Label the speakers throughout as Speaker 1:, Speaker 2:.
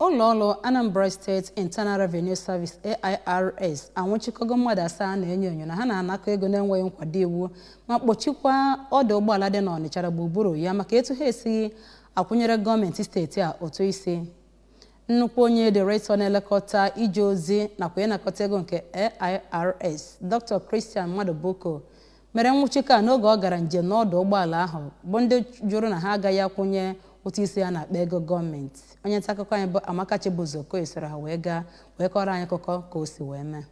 Speaker 1: Ụlọọrụ Anambra State Internal Revenue Service, AIRS, anwụchikọgo mmadụ asaa na-enyo enyo na ha na-anakọ ego na-enweghị nkwado iwu ma kpọchikwa ọdụ ụgbọala dị n'Ọnịcha na gburugburu ya maka etu ha esighị akwụnyere gọọmenti steeti a ụtụ isi. Nnukwu onye Director na-elekọta ije ozi nakwa ịnakọta ego nke AIRS, Dr. Christian Madubuko mere nwụchikọ a n'oge ọ gara njem n'ọdụ ụgbọala ahụ bụ ndị jụrụ na ha agaghị akwụnye ụtụ isi a n'akpa ego gọọmenti onye nta akụkọ anyị bụ Amaka Chibụzọ Okoye soro ha wee gaa wee kọrọ anyị akụkọ ka o si wee mee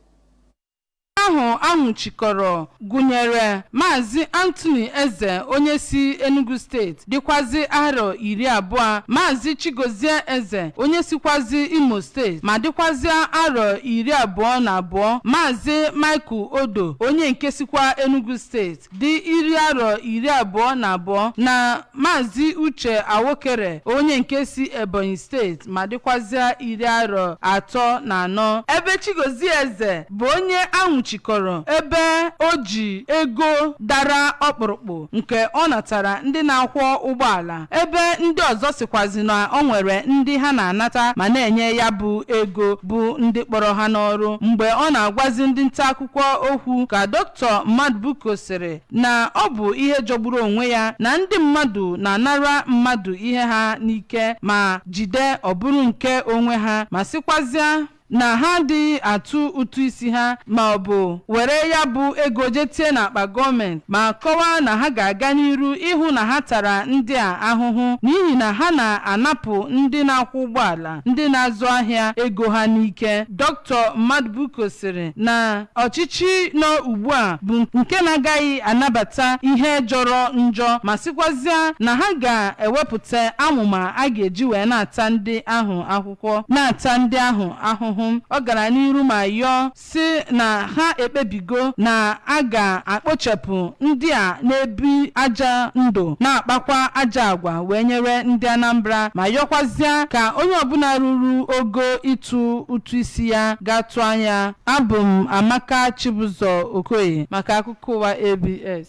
Speaker 2: ahụ a nwụchikọrọ gụnyere maazị Anthony Eze onye si Enugu steeti dịkwazị arọ iri abụọ Maazị Chigozie Eze onye sikwazị Imo steeti ma dịkwazịa arọ iri abụọ na abụọ Maazị Michael Odo onye nke sikwa Enugu steeti dị iri arọ iri abụọ na abụọ na Maazị Uche Awokere onye nke si Ebonyi steeti ma dịkwazịa iri arọ atọ na anọ ebe Chigozie Eze bụ onye a nwụchikọrọ ebe o ji ego dara ọkpụrụkpụ nke ọ natara ndị na-akwọ ụgbọala ebe ndị ọzọ sịkwazị na o nwere ndị ha na-anata ma na-enye ya bụ ego bụ ndị kpọrọ ha n'ọrụ mgbe ọ na-agwazi ndị nta akụkọ okwu ka Dr. Madubuko sịrị na ọ bụ ihe jọgburu onwe ya na ndị mmadụ na-anara mmadụ ihe ha n'ike ma jide ọ bụrụ nke onwe ha ma sịkwazịa na ha adịghị atụ ụtụ isi ha ma ọ bụ were ya bụ ego je tie n'akpa gọọmenti ma kọwaa na ha ga-aga n'iru ịhụ na ha tara ndị a ahụhụ n'ihi na ha na-anapụ ndị na-akwọ ụgbọala ndị na-azụ ahịa ego ha n'ike Dr. Madubuko sịrị na ọchịchị nọ ugbu a bụ nke na-agaghị anabata ihe jọrọ njọ ma sịkwazịa na ha ga-ewepụta amụma a ga-eji wee na-ata ndị ahụ ahụhụ wee na-ata ndị ahụ ahụhụ. Ọ gara n'iru ma yọọ sị na ha ekpebigo na a ga-akpochapụ ndị a na-ebi ajọ ndụ na-akpakwa ajọ agwa wee nyere ndị Anambra ma yọkwazịa ka onye ọbụla ruru ogo ịtụ ụtụ isi ya gaa tụọ ya. Abụ m Amaka Chibuzor Okoye maka akụkọ ụwa ABS.